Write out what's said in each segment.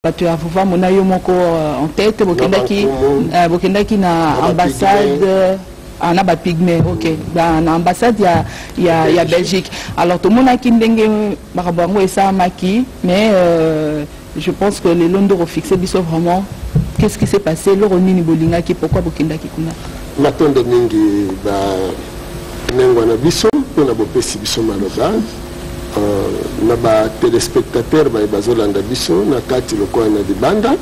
bato ya vuvamo na yo moko euh, en tête bokendaki euh, bokendaki na ambassade ah, na bapygme ok na ambassade ya, ya, ya belgique alors tomonaki ndenge makambo yango esalamaki mais euh, je pense que lelo nde okofixe biso vraiment qu'est ce qui s'est passé eloko nini bolingaki pourquoi bokendaki kuna matondo mingi banengwa na biso mpo na bopesi biso maloba na ba telespectateurs baye bazolanda biso na kati lokola na libanda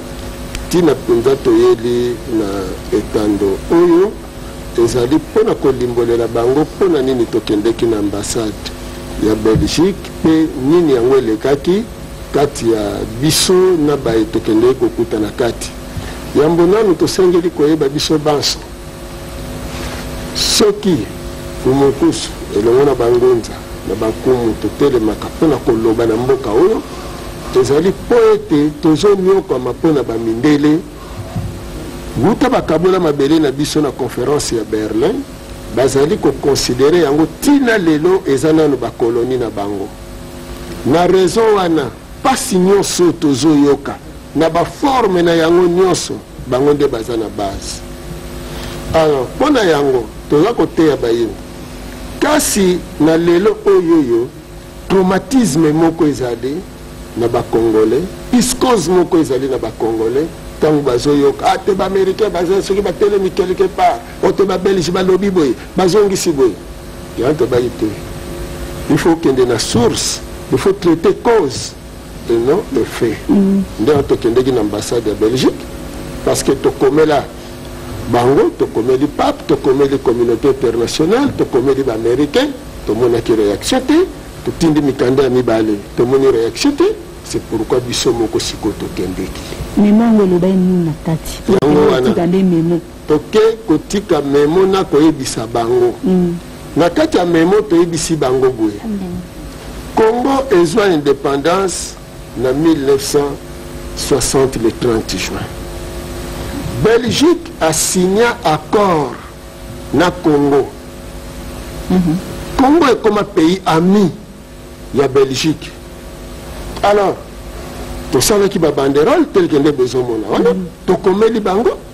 ntina mpenza toyeli na etando oyo ezali mpo na kolimbolela bango mpo na nini tokendeki na ambassade ya belgique mpe nini yango elekaki kati ya biso na baye tokendeki kokuta na kati yambo nanu tosengeli koyeba biso banso Soki Kumunkusu elongo na Bangunza na Bankumu totelemaka mpo na koloba na mboka oyo, ezali mpo ete tozonyokwama mpo na Bamindele. Wuta bakabola mabele na biso na Conference ya Berlin, bazali ko considerer yango ti na lelo eza nanu ba colonies na bango. Na raison wana, Pasi nionso oyo tozo yoka na ba forme na yango nionso bango nde baza na base alors pona yango toza koteya bayini kasi na lelo oyoyo traumatisme moko ezali na ba congolais piscose moko ezali na ba congolais ntango bazoyoka ate ah, baaméricain baza soki batelemi quelque part Ote ba belge balobi boye bazongisi boye yango tobayi te il faut okende na source il faut traiter cause et non le fait mm. nde yango tokendeki na ambassade ya belgique parce que tokomela bango tokomeli pape tokomeli communauté internationale tokomeli baaméricain tomonaki réaction te totindi mikanda ya mibale tomoni réaction te c'est pourquoi biso moko sikoyo tokendeki yango wana Toke kotika memo na koyebisa bango. Mm. Na kati ya memo toyebisi bango boye. Mm. Congo ezwa independance na 1960 le 30 juin. Belgique a signé accord na Congo. Mm -hmm. Congo est comme un pays ami ya Belgique. Alors, tosalaki babanderole telke nde bozomona wana mm. tokomeli bango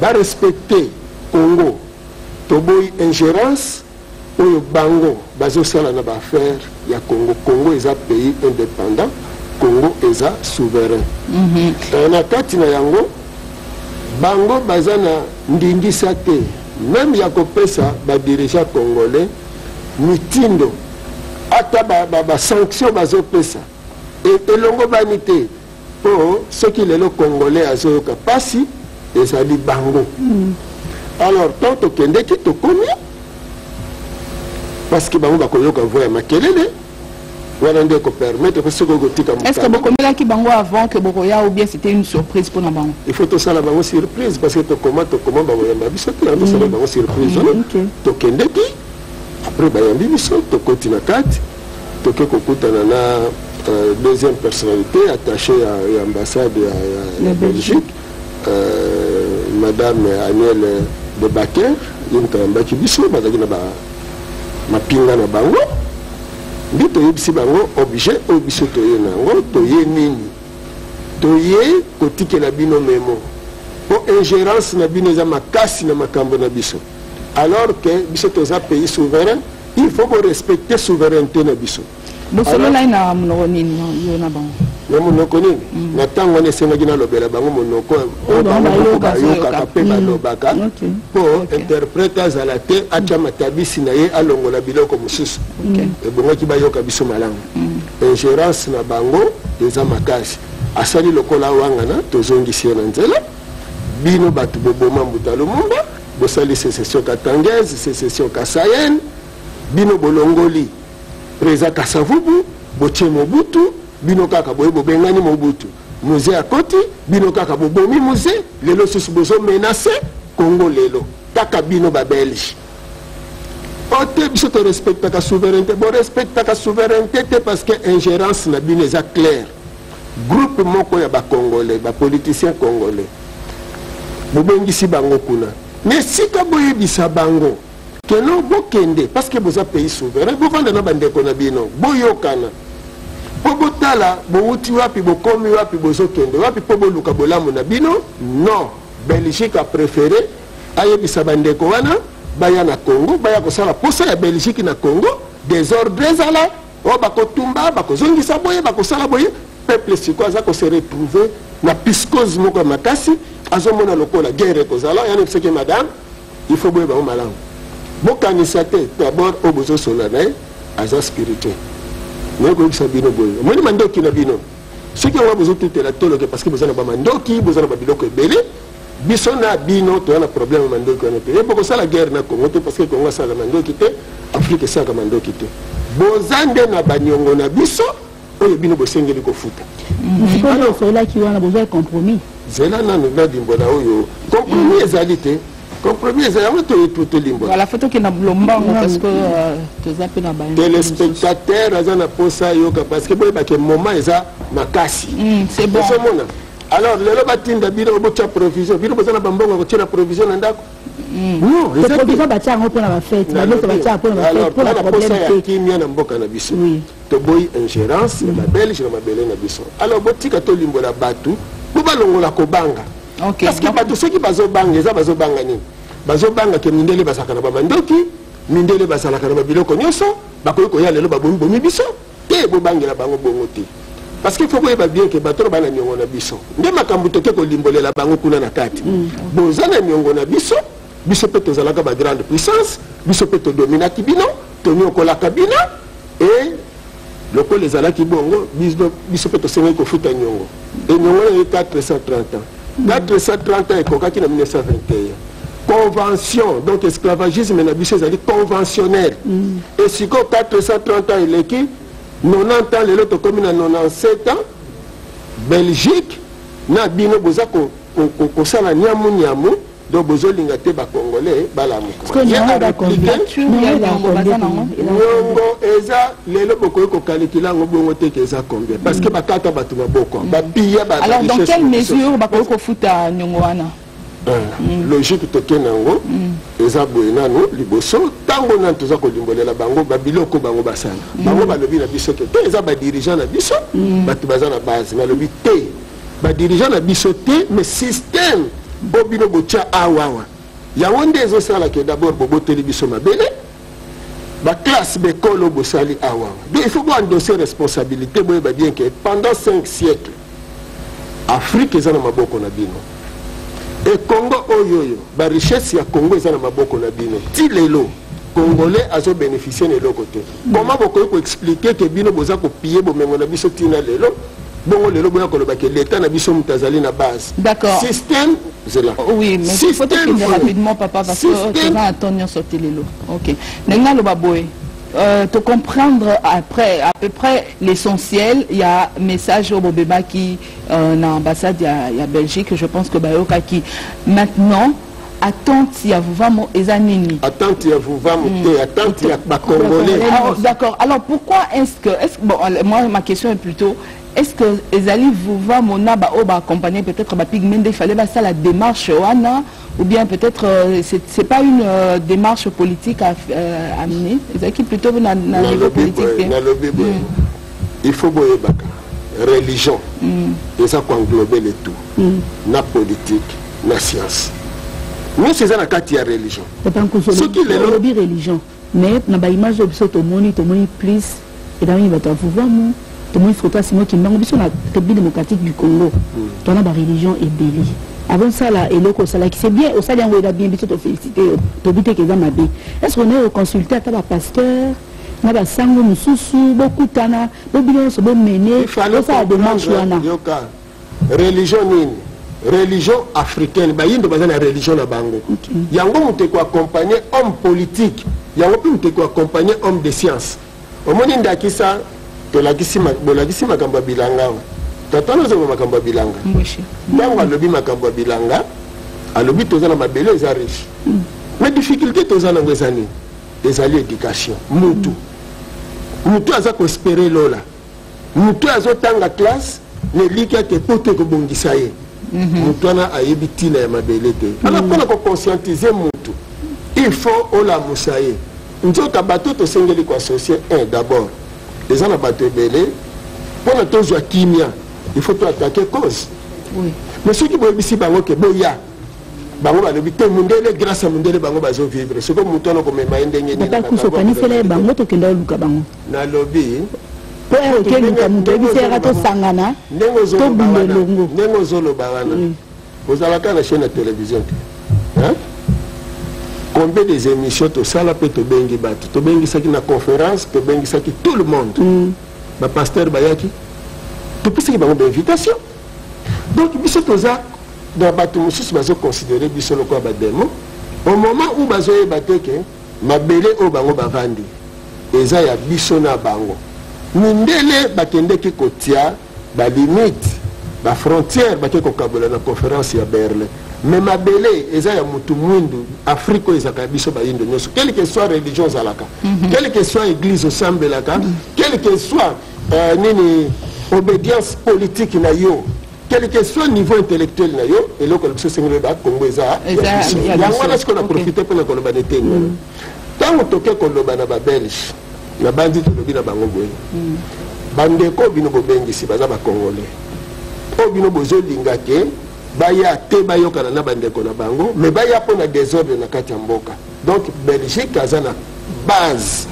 Ba respecter Congo toboyi ingerence oyo bango bazo sala na ba affaires ya Congo. Congo eza pays independant, Congo eza souverain. Et na kati na yango bango baza na ndingisa te meme ya kopesa ba dirigeants congolais mitindo ata ba sanctions bazo pesa. e, elongobani te mpo soki lelo congolais azoyoka mpasi ezali bango mm. alors tant tokendeki tokomi parce que bango bakoyoka voi ya makelele wana nde ekopermettre mpe soki okotika est ce que bokomelaki bango avant que bokoya ou bien c'était une surprise mpona bango il faut tosala bango surprise parce que tokoma tokoma bakoyamba biso te yango tosala mm. bango surprise wana mm, tokendeki après bayambi biso tokoti na kati toke kokutana na euh, deuxième personnalité attaché ya, ya ambassade ya, ya, ya belgique euh, madame aniel de baker ye moto ayambaki biso bazalaki na ba mapinga na bango nde toyebisi bango objet oyo biso toye na yango toye nini toye kotikela bino memo mpo ingérence na bino eza makasi na makambo na biso alors que biso toza pays souverain il faut ko respecter souveraineté na biso bosololai na monoko nini yo na bango na monoko nini mm. na ntango wana esengaki nalobela bango monoko oyo bango moko bayokaka mpe mm. balobaka mpo interprete azala te atya mm. matabisi na ye alongola biloko mosusu ebongaki bayoka biso malamu ingérance na bango eza makasi asali lokola wangana tozongisi ye na nzela bino bato boboma mbuta lumumba Bosali secession katangaise, secession kasaienne, bino bolongoli President Kasavubu, botie Mobutu, bino kaka boye bobengani Mobutu. Muze akoti, bino kaka bobomi Muze, lelo susu bozo menacer Congo lelo. Kaka bino ba Belge. ote biso torespectaka souveraineté borespectaka souveraineté te parce que ingérence na bino eza claire Groupe moko ya ba congolais ba politiciens congolais bobengisi bango kuna na esika boyebisa bango que non bokende parce que boza pays souverain bovanda na bandeko na bino boyokana mpo botala bowuti wapi bokomi wapi bozokende wapi mpo boluka bolamu na bino non belgique a préféré ayebisa bandeko wana baya na congo baya kosala mposa ya belgique na congo desordre ezala oh bakotumba bakozongisa boye bakosala boye peuple sikoyo aza kose retrouve na piscose moko ya makasi azomona lokola guerre ekozala yani biseke madame il faut boye bango malamu bokanisa te d'abord oyo bozosola na ye aza spirituel naye koyebisa bino boye omoni mandoki na bino soki yango bozotutela toloke parce que boza na bamandoki boza na babiloko ebele Biso na bino toza na problème ya mandoki wana te. Ye bokosala guerre na Congo te parce que Congo asalaka mandoki te, Afrique esalaka mandoki te. Boza nde na banyongo na biso oyo bino bosengeli kofuta. Sikoyo osololaki wana bozwa compromis. Zela nanu na limbola oyo compromis ezali te. compromis eza yango tolimbola voilà faut tokenda bulombango parce que euh, toza mpe na ba telespectateur aza na mposa ayoka parce que boyebake moment eza makasi mm, ozomona alors lelo batinda bino botya provision bino boza na bambongo ya kotya na provision na ndako provision batya yango mpona bafete bamesa batya mpona bafetepona problème te kimia na mboka na biso toboyi ingérence ya babelge na mabele na biso alors botika tolimbola bato po balongola kobanga parce que bato soki bazobanga eza bazobanga nini bazobanga ke mindele bazalaka na bamandoki mindele bazalaka na babiloko nyonso bakoki koya lelo babomibomi biso te bobangela bango bongo te parce que faut boyeba bien ke bato bana niongo na biso nde makambo toke kolimbolela bango kuna na kati mm. boza na niongo na biso biso mpe tozalaka ba grande puissance biso mpe todominaki bino toniokolaka bino e lokola ezalaki bongo biso mpe tosengeli kofuta niongo e niongo na ye 430 ans date esa 30 ans ekokaki na 1921 convention donc esclavagisme na biso ezali conventionnel mm. e sikoyo 430 ans eleki 90 ans lelo tokomi na 97 ans belgique na bino boza kosala ko, ko, niamu niamu donc bozolinga te bacongolais balamuka niongo eza lelo bokoki kokalikila yango bongo te ke eza combien parce que bakata bato maboko mm. bapiya alors dans quelle mesure bakoki kofuta niongo wana euh, mm. logique tokende yango mm. eza boye nano liboso ntango nani toza kolimbolela bango babiloko bango basala bango balobi na biso te te eza badirigeant na biso bato baza na base balobi te ba dirigeant na biso te mais système bo bino botia awawa yango nde ezosala ke d'abord boboteli biso mabele baklasse bekolo bosali awa donc il faut boendose responsabilité boyeba bien ke pendant 5 siècle afrique eza na maboko na bino e congo oyo oyo barichesse ya congo eza na maboko na bino ti lelo congolais azobénéficie na eloko te comment bokoki ko expliquer ke bino boza ko piller bomengo na biso tina lelo bongo lelo boya koloba ke leta na biso moto azali na base d'accord système zela oh, oui mais faut faut que rapidement papa parce que oh, tu vas attendre nyonso te lelo ok ndenge naloba boye euh, te comprendre après à peu près l'essentiel il y a message au Bobeba qui euh, na ambassade ya, ya Belgique je pense que bayokaki maintenant attente ya vuvamo eza nini attente ya vuvamo mm. te attente ya bacongolais ah, oh, d'accord alors pourquoi est-ce que est -ce, bon, euh, moi ma question est plutôt est-ce que ezali vuvamo na baoyo baaccompagne peut-être bapigme nde fallait basala démarche wana ou bien peut-être euh, c'est pas une euh, démarche politique à, euh, à mener ezalaki plutôt na, na niveau politique te mm. il faut boyebaka religion mm. eza koenglobe le tout mm. na politique na science nyonso eza na kati ya religion soki lelobi religion mais na baimage oyo biso tomoni tomoni plus elamini bato ya vuvamu tomoni foto ya simo kimbango biso na république démocratique du congo mm. tona bareligion ebele avant osala eloko osalaki c'est bien osali yango eza bien biso tofélicité yo tobi te ke eza mabe est ce qu'on est reconsulte ata bapasteur na basango mosusu bokutana bo bino nyonso bomene bosala demarche wana religion nini religion africaine bayindo baza na religion na bango yango moto ekoaccompagne homme politique yango mpe moto ekoaccompagne homme de science omoni ndakisa bolakisi makambo ya bilanga tata nozonga makambo ya bilanga ntango alobi makambo ya bilanga alobi toza na mabele eza riche mm. mais difficulté toza nango eza nini ezali education mutu mutu aza koespere lola mutu azotanga classe na elikya te poto ekobongisa ye mhm. mutu wana ayebi ntina ya mabele te mhm. ana mpona koconscientize mutu il faut olamusa ye nzoka bato tosengeli koassocie un d'abord eza na bato ebele mpona tozwa kimia il faut toatake cause mais soki boyebisi bango ke boya bango balobi te mundele grâce ya mundele bango bazo vivre sikoyo moto wana okomema ye ndenge niniakusa okanisela ye bango tokenda oluka bango nalobi po oke luka moto oyebisa yaka tosangana tobunda elongo ndenge ozoloba wana mm. ozalaka na chaine ya télévision te combien des émissions tosala mpe tobengi bato tobengisaki na conférence tobengisaki tout le monde mm. bapasteur bayaki topesaki bango bainvitation donc biso toza na bato mosusu bazoconsidere biso lokola bademo au moment où bazoyeba te ke mabele oyo bango bavandi eza ya biso na bango mindele bakendeki kotia balimite bafrontière bake kokabola na conférence ya berlin mais mabele eza ya motu mwindu afrique oyo ezalaka ya biso bayindo nyonso quelque soit religion ozalaka quelque soit église osambelaka quelque soit uh, nini obedience politique na yo quel que soit niveau intellectuel na yo eloko ya biso sengeli oyeba congo eza yango wana sikoyo na profite mpo na koloba na eteni wana ntango toke koloba na babelge nabanzi tolobi na bango boye mm. bandeko oyo bino bobengisi baza bacongolais oyo bino bozolinga te baya te bayokana na bandeko na bango me baya mpo na desordre na kati ya mboka Donc Belgique aza na base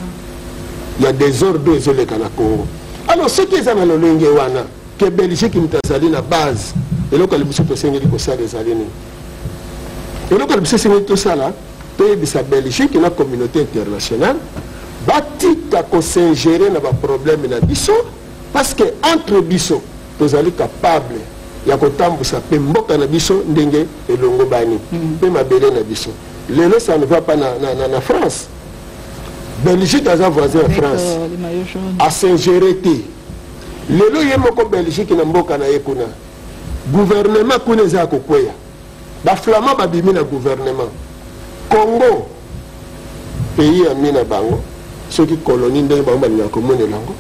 ya desordre oyo ezoleka na Congo. Alors soki eza na lolenge wana ke Belgique moto azali na base, eloko ya liboso tosengeli kosala ezali nini? Eloko ya liboso esengeli tosala toyebisa Belgique na communauté internationale batika kosingere na baproblème na biso parce que entre biso tozali capable ya kotambusa mpe mboka na biso ndenge elongobani mpe mabele na biso Lelo ça ne va pas na, na, na, na France. Belgique aza voisin ya France. Euh, a s'ingérer te. Lelo ye moko Belgique na mboka na ye kuna. Gouvernement kuna eza kokweya. Ba flamand babimi na gouvernement. Congo pays ya mina bango soki colonie ndenge bango balingaka komonela yango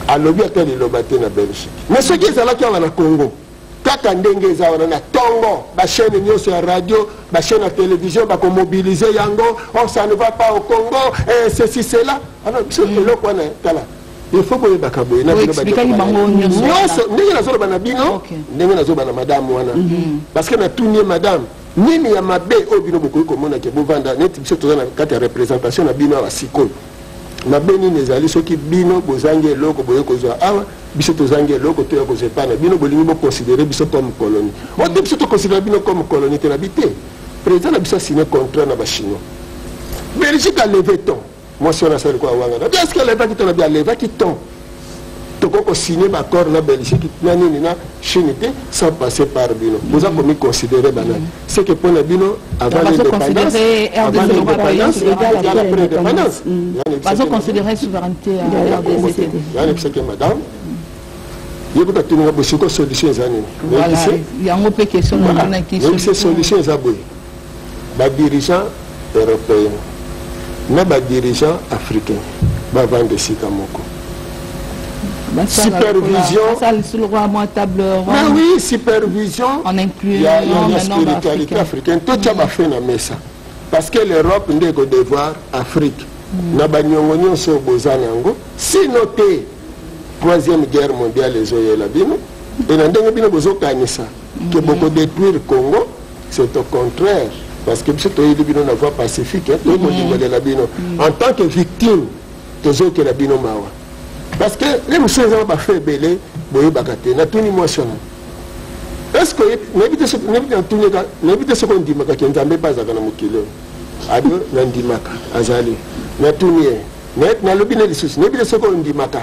alobi ata liloba te na belgique mais soki ezalaki awa na congo kaka ndenge eza wana na tongo bachaine nyonso ya radio bachaine ya télévision bakomobilize yango on ça ne va pas au congo eh, ceci cela alors biso eloko wana tala ilfo boyebaka boye nyonso ndenge nazoloba na bino ndenge nazoloba na madame wana mhm. parce que natuni ye madame nini ya mabe oyo bino bokoki komona ke bovanda neti biso toza na kati ya représentation na bino awa sikoyo Mabe nini ezali soki bino bozangi eloko boye kozwa awa biso tozangi eloko toya kozwa epai na bino bolingi boconsidere biso comme colonie o te biso toconsidere bino comme colonie te na bi te président na biso asine contrat na bachinois belgique aleve ton mwasi wana asali kwa wangana biaske alevaki ton na bi alevaki ton tokoki kosigne baaccord na belgique na nini na chine te sans passer par bino boza mm. komiconsidere banani mm. seke mpo na bino avant l'indépendance avant l'indépendance egala pre indépendance yani biseke madame yebi katuninga bosiko solution eza nini yango mpe question namonaki solution eza boye Ba dirigeants europeens na ba dirigeants africains bavanda esika moko supervision ah oui supervision ya spiritualité africaine totya mm. bafe na mesa parce que l'europe nde ekodevoir afrique mm. na baniongo nyonso oyo boza na yango sino te troisième guerre mondiale ezoyela bino e na ndenge bino bozokanisa ke mm. bokodetruire congo C'est au contraire parce que biso toyeli bino na voie pacifique hein, toyei kondimbalela mm. bino mm. en tant que victime tozokela bino mawa parce que le mosusu eza bafe ebele boyebaka te natuni mwasi wana eske nayebi te soki ondimaka ke nzambe mpe azalaka na mokili oyo abi nandimaka azali natuni ye nalobi na lisusu nayebi te soki ondimaka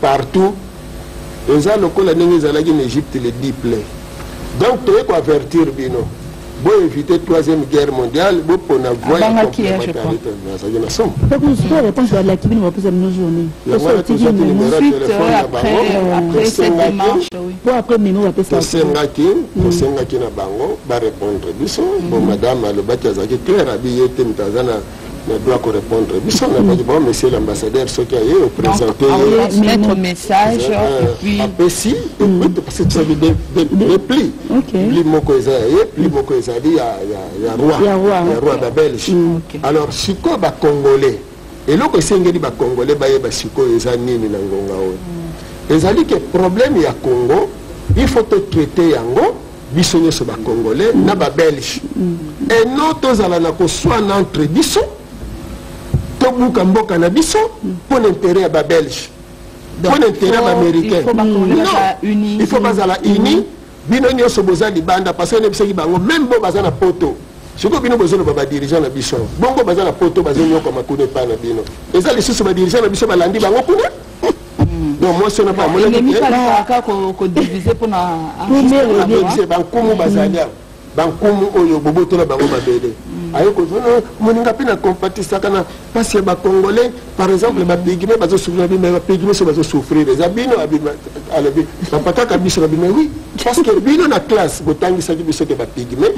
partout eza lokola ndenge ezalaki na egypte le dit plein donc toye ko avertir bino bo éviter troisième guerre mondiale bopona voie ya Abangaki, hein, je complémentarité crois. nazalaki na somo Bakusu sikoyo réponse balaki bino bapesa bino journée. yango wana Tosotiki tozwaki memo. numero ya Suite, telefone euh, ya après, bango après cette tosengaki démarche, oui. Po après memo bapesa bino. tosengaki tosengaki na bango barépondre biso bon madame alobaki azalaki claire abi ye te moto aza na na doit ko répondre biso na bali bon monsieur l'ambassadeur soki aye o présenter ye mettre message et puis apesi écoute parce que tu savais des des plis pli moko eza ya ye pli moko ezali ya ya ya roi ya roi ba belge alors sikoyo ba congolais eloko esengeli ba congolais bayeba sikoyo eza nini na ngonga oyo ezali ke problème ya congo il faut totraite yango biso nioso ba congolais na ba belge et non tozala na koswana entre biso tobuka mboka na biso mpo na interet ya ba belge mpo na interet ya baaméricain il faut bazala uni bino nioso boza libanda parce que nebisaki bango meme bo baza na poto sikoyo bino bozoloba badirigeant na biso bongo baza na poto bazonyokama kuna epai na bino eza lisusu badirigeant na biso balandi bango kuna donc mwasi wana bamonaki bankumu bazali awa bankumu oyo bobotola bango mabele mm. aye kozwa ah, moninga mpe na compatisaka na mpasi ya bacongolais par exemple bapigme bazosouffrir bima bapigme so bazosouffrir eza bino alobi bapataka biso babima wi parce que bino na classe botangisaki biso te bapigme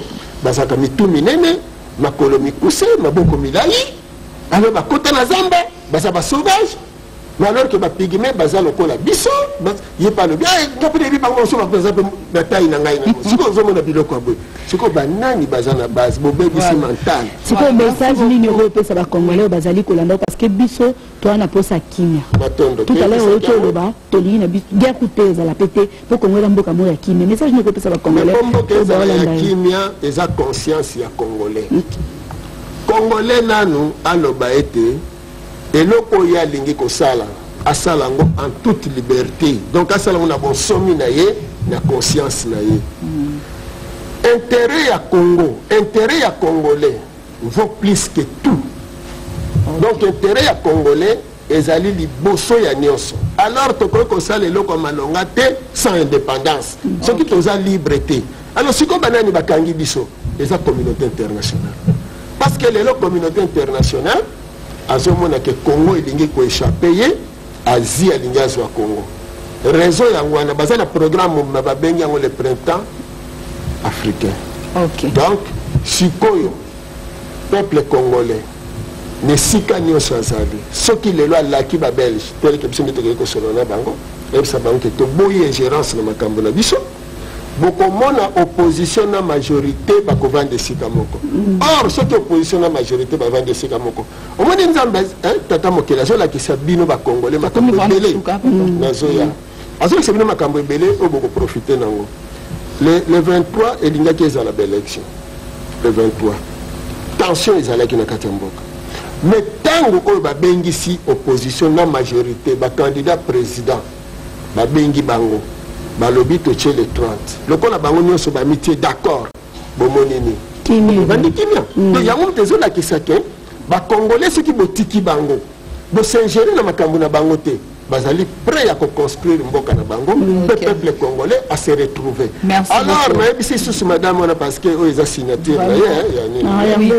bazalaka mitu minene makolo mikuse maboko milai alo bakota na zamba baza basauvage mais alors que ba pygmee baza lokola biso ye pa alobi eh, nga mpe nayebi bango mosusu baza mpe na tai na ngai nango sikoyo ozomona biloko ya boye sikoyo banani baza na base bobebisi mental sikoyo message nini okoki opesa bacongolais oyo bazali kolanda parce que biso toa na mposa kimia totalere oyoki oloba tolingi na biso guerre kute ezala mpe te mpo kongo eza mboka moko ya kimia message nini okopesa bacongolais ya kimia eza conscience ya congolais mm. congolais nanu aloba ete eloko oyo ye alingi kosala asala yango en toute liberté donc asala yango na bonsomi na ye na conscience na ye mm. intérêt ya congo intérêt ya congolais vaut plus que tout okay. donc intérêt ya congolais ezali liboso ya nyonso alors tokoki kosala eloko ya malonga te sans indépendance mm. soki okay. toza libre te alors sikoyo banani bakangi biso eza communauté internationale parce que lelo communauté internationale azomona ke congo elingi koechappe ye asie alingi azwa congo raison yango wana baza na programme mobima babengi yango le printemps africain okay. donc sikoyo peuple congolais na esika nyonso azali soki lelo alaki babelge teleke biso nde tokoki kosolola na bango eyebisa bango te toboyi ingérence na makambo na biso bokomona opposition na majorité bakovanda esika moko mm. or soki opposition na majorité bavanda esika moko omoni nzambe eh, tata mokeli azolakisa bino bakongole makambo ebele mm. nazoya azolakisa bino makambo ebele oyo bokoprofite nango le, le 23 elingaki ezala baélection le 23 tension ezalaki na kati ya mboka mais ntango oyo babengisi opposition na majorité bacandidat président babengi bango balobi totie le 30 lokola bango nyonso bamitie d'accord bomoni nini bandi kimia to mm. yango moto ezolakisa ke bakongole soki botiki bango bosingere na makambo na bango te bazali prêt ya koconstruire mboka na bango mm, mpe peuple congolais a se retrouver alors nayebisi lisusu madame wana parce que oyo eza signature na ye ya nini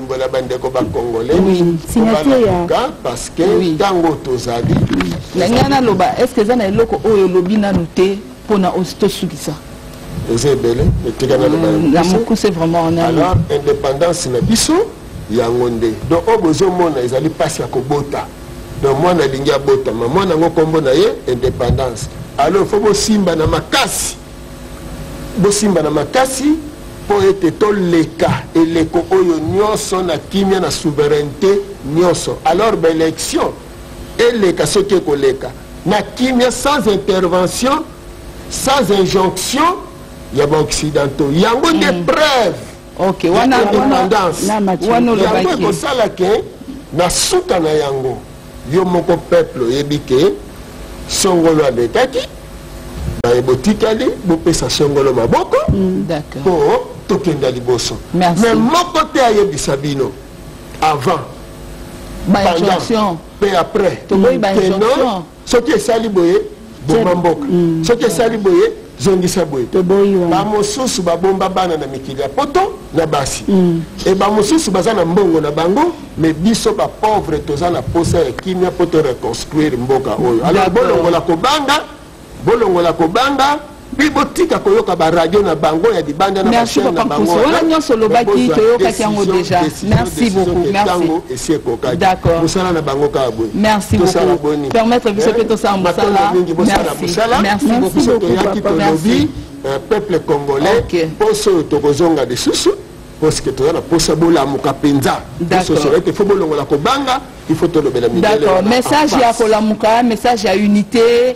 kolimbola bandeko ba congolais kobalakuka parce que ntango tozali na ngai naloba est ce que eza na eloko oyo olobi nanu te mpo na tosukisa eza ebele etika naloba mm, na mokuse vraiment alors indépendance na biso yango nde donc oyo bozomona ezali mpasi ya kobota donc mwana alingi abotama mwana yango nkombo na ye indépendance alors fo bosimba na makasi Bosimba na makasi mpo ete toleka eleko oyo nyonso na kimia na souverainete nyonso. Alors ba election eleka soki ekoleka na kimia sans intervention, sans injonction ya ba occidentaux. Yango nde mm. preuve okay, wana, independance yango ekosala ke na suka na yango yo moko peuple oyebi ke songolo alekaki baye botikali bopesa songolo maboko mm, mpo mm, tokenda liboso me moko te ayebisa bino avant pendant mpe après toboyi bainjonction soki esali boye boma mboka mm. soki esali boye zongisa boye bamosusu babomba bana na mikili ya poto na basi mm. e bamosusu baza na mbongo na bango me biso bapauvre toza na posa ya kimia mpo to reconstruire mboka oyo alors bolongola kobanga bolongola kobanga mpe botika koyoka baradio na bango ya libanda na bachaine na bango wana nyonso olobaki toyokaki yango deja merci beaucoup ntango esi ekokaki mosala na bango kaka boye merci tosala boni permettre biso mpe tosala mosala mingi bosala mosala biso toyaki tolobi peuple congolais mposo oyo tokozonga lisusu parceke toza na mposa bolamuka mpenza sosolo ete fo bolongola kobanga il faut tolobela mindele message ya kolamuka message ya unité